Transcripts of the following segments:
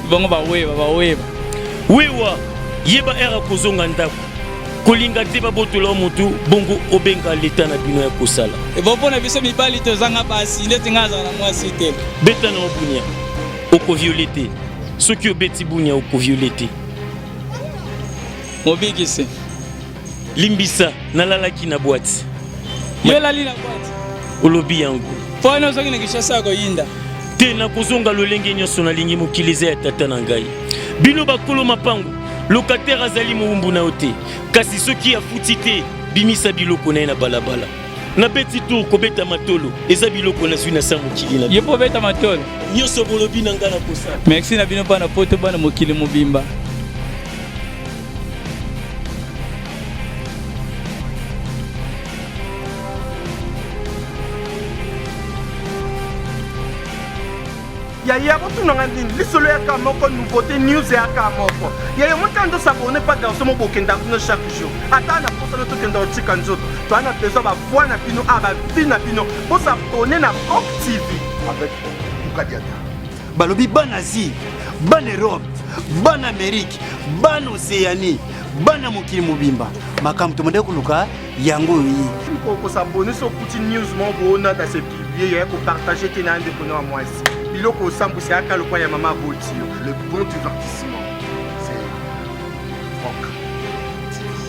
bango baweba baweba wewa yeba ere akozonga ndako kolinga te babotola motu bongo obenga leta na bino ya kosala ebo mpo na biso mibali tozanga basi ndeti ngai azala na mwasi te beta na obunia okoviole te soki obeti bunia okoviole te mobikisi limbisa nalalaki na bwati yolali na bwati olobi yango mpo wana ozongi na kinshasa ya koyinda te nakozonga lolenge nyonso nalingi mokili eza ya tata na ngai bino bakolo mapango lokatere azali mowumbu na yo te kasi soki afuti te bimisa biloko na ye na balabala nabeti tour kobeta matolo eza biloko nazwi na sa mokili na ye mpo obeta matolo nyonso bolobi na ngai na kosala merci na bino mpo na poto bana mokili mobimba yaya botuna nga nini lisolo yaka moko nouveauté news yaka moko yaya motani tosabone pa danse mobokenda kuna chaque jour ata na posana tokenda otika nzoto toa na besoin bavoi na bino a bavi na bino bosabone na cop tv avec mukadiata balobi bana asie bana europe bana amerike bana oceanie bana mokili mobimba makambo tomandaki koluka yango oyo ye kokosabone so okuti news moko boonata se publie yaya kopartage te na ndeko na mwasi biloko osambwisa yaka lokwa ya mama aboti yo le bon divertissement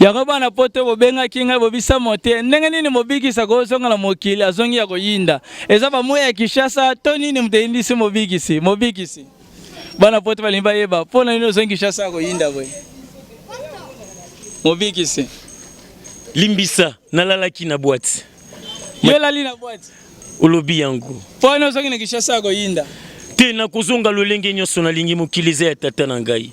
yango bana poto bobengaki ngai bobisa mote ndenge nini mobikisa kozonga na mokili azongi ya koyinda eza bamoi ya kishasa to nini moto eyindisi mobikisi mobikisi bana poto balingi bayeba mpo na nini ozongi kishasa ya koyinda boye mobikisi limbisa nalalaki na bwati yo olali na bwati olobi yango mpo nini ozongi na kishasa ya koyinda te nakozonga lolenge nyonso nalingi mokili eza ya tata na ngai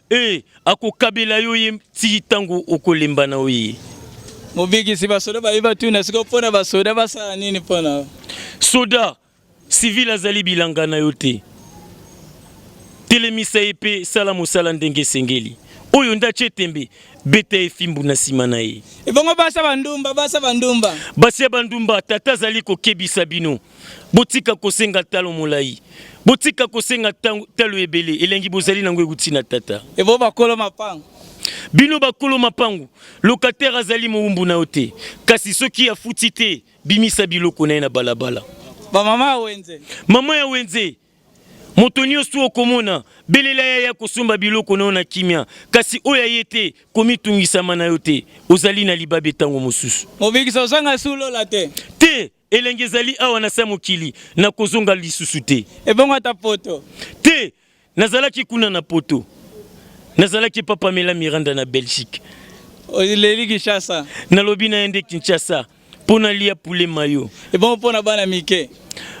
Ee, akokabela yo ye tii ntango okolemba na ye. Mobikisi basoda baye batuna sikoyo mpo na basoda basala nini mpo na soda sivile azali bilanga na yo te telemisa ye mpe sala mosala ndenge esengeli oyo nde atye tembe beta ye fimbu na nsima na ye ebongo basa bandumba basa bandumba basi ya bandumba tata azali kokebisa bino Botika kosenga talo molai. Botika kosenga talo ebele. Elengi bozali nango ewuti na Tata. Ebo bakolo mapango. Bino bakolo mapango, locataire azali mowumbu na yo te. Kasi soki afuti te, bimisa biloko na ye na balabala. Ba mama ya wenze. Mama ya wenze. Moto nyonso okomona, belela ye aya kosomba biloko na yo na kimia. Kasi oyo aye te, komitungisama na yo te. Ozali na libabe tango mosusu. Mobikisi ozanga esi olola te. Te! Elengi ezali awa na se ya mokili, nakozonga lisusu te. Ebongo ata poto? Te, nazalaki kuna na poto. Nazalaki epa Pamela Miranda na Belgique. Oleli Kinshasa? Nalobi na ye nde Kinshasa mpo nalia poulet mayo. Ebongo mpo na bana mike?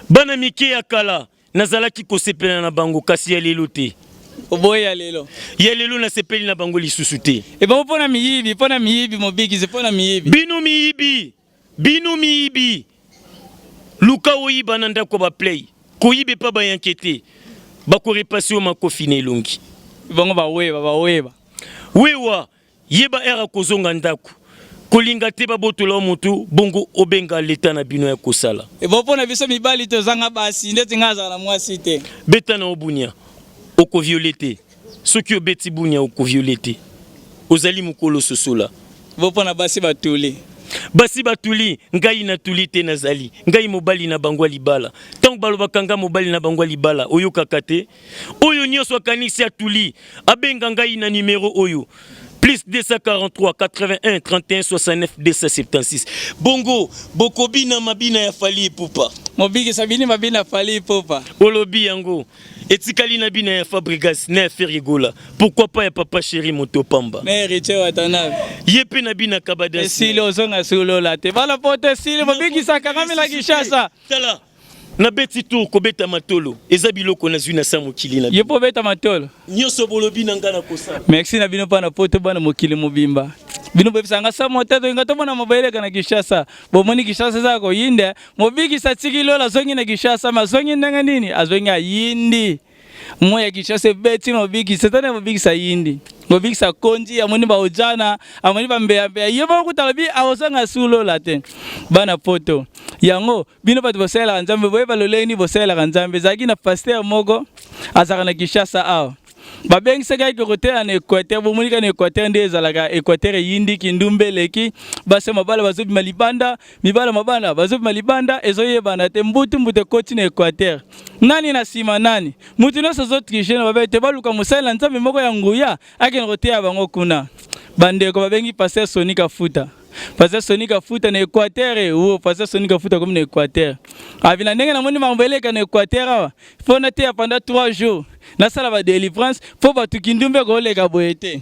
Bana mike ya kala nazalaki kosepela na bango, kasi ya lelo te. Oboye ya lelo? Ya lelo nasepeli na bango lisusu te. Ebongo mpo na miyibi? Mpo na miyibi, mobikisi mpo na miyibi. Bino miyibi! Bino miyibi luka oyiba na ndako ya ba play koyiba epa ba yanke te bako repase yo makofi na elongi. Bango ba weba ba weba. Wewa yeba heure ya kozonga ndaku kolinga te babotola yo mutu bongo obenga l'etat na bino yako sala. Ebongo pona biso mibali tozanga basi ndeti nga nazala na muasi te. Beta na yo bunia oko viole te. Soki obeti bunia oko viole te. Ozali mukolo sosola. Bo pona basi ba tuli. Basi ba tuli ngai na tuli te na zali ngai mobali na bango ya libala tango ba lobaka nga mobali na bango ya libala oyokaka te oyo nioso akanisi a tuli abenga ngai na numero oyo plus 243 81 31 69 276 bongo bokobina mabina ya fali ipupa mobikisa bini mabina fali ipupa olobi yango Etikali na bina ya Fabregas na ya Ferre Gola. Pourquoi pas ya Papa Chéri moto pamba. Mais Heritier Watanabe. Ye pe na bina Kabada. Esili ozonga solola te. Bala pote esili bobikisa kangami la Kinshasa. Tala. Na beti tour kobeta matolo eza biloko nazwi na sa mokili na. Ye po beta matolo. Nyoso bolobi na nga na kosala. Merci na bino pa na poto bana mokili mobimba. bino bebisanga sa moteto inga tomona mobeleka na kinshasa bomoni kinshasa eza koyinde Mobikisi atiki lola azongi na Kinshasa, ma azongi ndenge nini? Azongi ayindi moi ya Kinshasa ebeti mobikisi, etani ya mobikisi ayindi mobikisi akonji, amoni baojana, amoni bambeyambeya, ye moko kuta alobi akozanga su lola te. Bana poto yango bino bato bosalelaka Nzambe, boyeba lolenge nini bosalelaka Nzambe. Ezalaki na pastere moko azalaka na Kinshasa awa babengisaki ye kokotela na equateur bomonika na equateur nde ezalaka equateur eyindi kindumba eleki basi mabala bazobima libanda mibala mabala bazobima libanda ezoyebana te mbutu mbutu ekoti na equateur nani na nsima nani moto nyonso azotrige na babe te baluka mosali na nzambe moko ya nguya akende koteya bango kuna bandeko babengi paster soni kafuta paster soni kafuta na equateur e o paster soni kafuta akomi na equateur abina ndenge namoni mambo eleka na equateur awa mpo nateya panda 3 jours nasala ba délivrance mpo bato kindumbe koleka boye te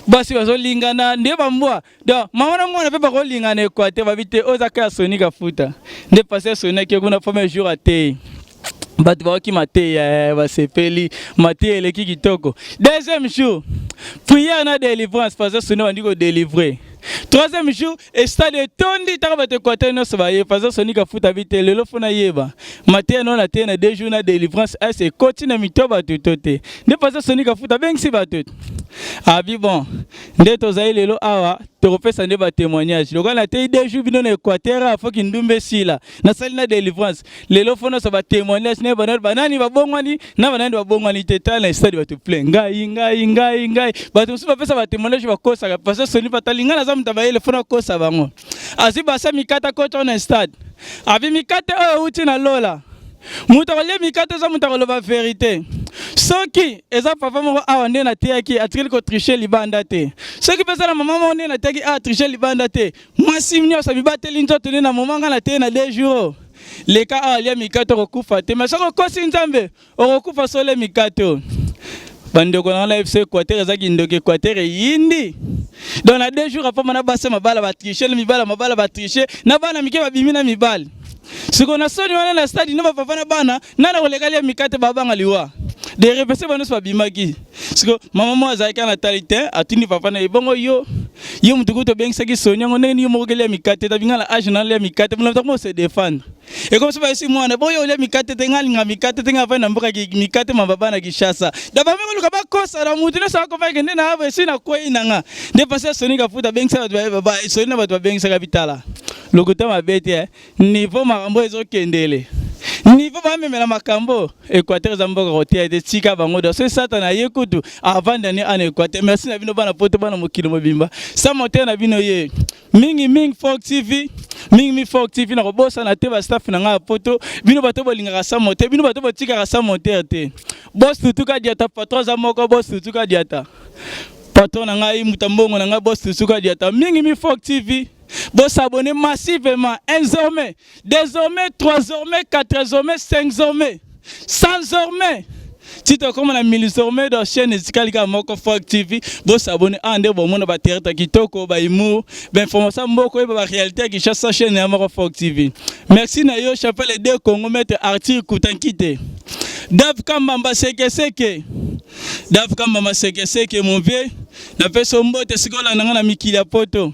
basi bazolingana nde bambwa donc mama na mwana mpe bakolingana ekwa te babi te oyo eza ka ya soni kafuta nde pasi asonaki kuna premier jour ateyi bato baoki mateya eh, basepeli mateya eleki kitoko deuxième jour prière na délivrance pasi asoni bandi kodelivre troisième jour estade etondi taka bato ekwate nyonso baye paza sonika afuta bi te lelo fona yeba mateya nao na teya na deux jours na délivrance as ekoti na mito bato to te nde paza sonika afuta abengisi bato abi bon nde tozali lelo awa tokopesa nde batémoignage lokola nateyi deux jours bino na équateur afoki ndumba esila na sali na delivrance lelo fo nyonso ba témoignage na banani banani babongwani na banani babongwani te tala na stade bato plein ngai ngai ngai ngai bato mosusu bapesa ba témoignage bakosaka parce que soni batali ngai naza moto bayele fo nakosa bango azwi basa mikata kota na stade abi mikate oyo euti na lola moto akolia mikate eza moto akoloba verité soki eza papa moko awa nde nateyaki atikeli kotriche libanda te soki mpe eza na mama moko nde nateyaki awa triche libanda te mwasi nyonso bibateli nzoto nde na moma ngai na teye na deux jours leka awa lia mikate okokufa te me soki okosi nzambe okokufa sole mikate oyo bandeko na wana fc equateur eza kindoki equateur eyindi donc na deux jours apama na basi mabala batriche na mibala mabala batriche na bana mike babimi na mibali siko na soni wana na stade na bapapa na bana nana koleka lia mikate babanga liwa derepese banonso babimaki siko mama moko azalaki kaka na tali te atuni papa na ye bongo yo yo moto kutu obengisaki soni yango ndenge nini yo moko okelia mikate etabi ngai na age nalia mikate mona ntango se defendre ekomi soki bayesi mwana boye olia mikate te ngai alinga mikate te ngai avandi na mboka mikate ma baba na kishasa da bambe koluka bakosa na moto nyonso akofaki nde na esi nakwei na nga nde pasi ya soni kafuta abengisaka bato soni na bato babengisaka bitala lokuta mabe te eh. Niveau makambo ezo kendele. Niveau ba memela makambo. Equateur eza mboka kotia ete tika bango da. Soki satana ye kutu avant d'année en Equateur. Merci na bino bana poto bana mokili mobimba. Sa moteur na bino ye. Mingi mingi Folk TV. Mingi mingi Folk TV na kobosa na te ba staff na nga poto. Bino bato bolingaka sa moteur. Bino bato botikaka sa moteur te. Boss tutuka diata patron za moko boss tutuka diata. Patron na ngai mutambongo na ngai boss tutuka diata. Mingi mingi Folk TV. Bo s'abonner massivement, un zombie, deux zombies, trois zombies, quatre zombies, cinq zombies, cent zombies. Tito koma na mili zombies dans chaîne etikali kaka moko Folk TV. Bo s'abonner ah nde bo mona ba théâtre kitoko, ba humour, ba information mboko yeba ba réalité ya Kinshasa chaîne ya moko Folk TV. Merci na yo chapelle de Congo maître Arthur Kutankite. Dave Kambamba seke seke. Dave Kambamba seke seke mon vieux. Napesa mbote sikola na nga na mikili ya poto.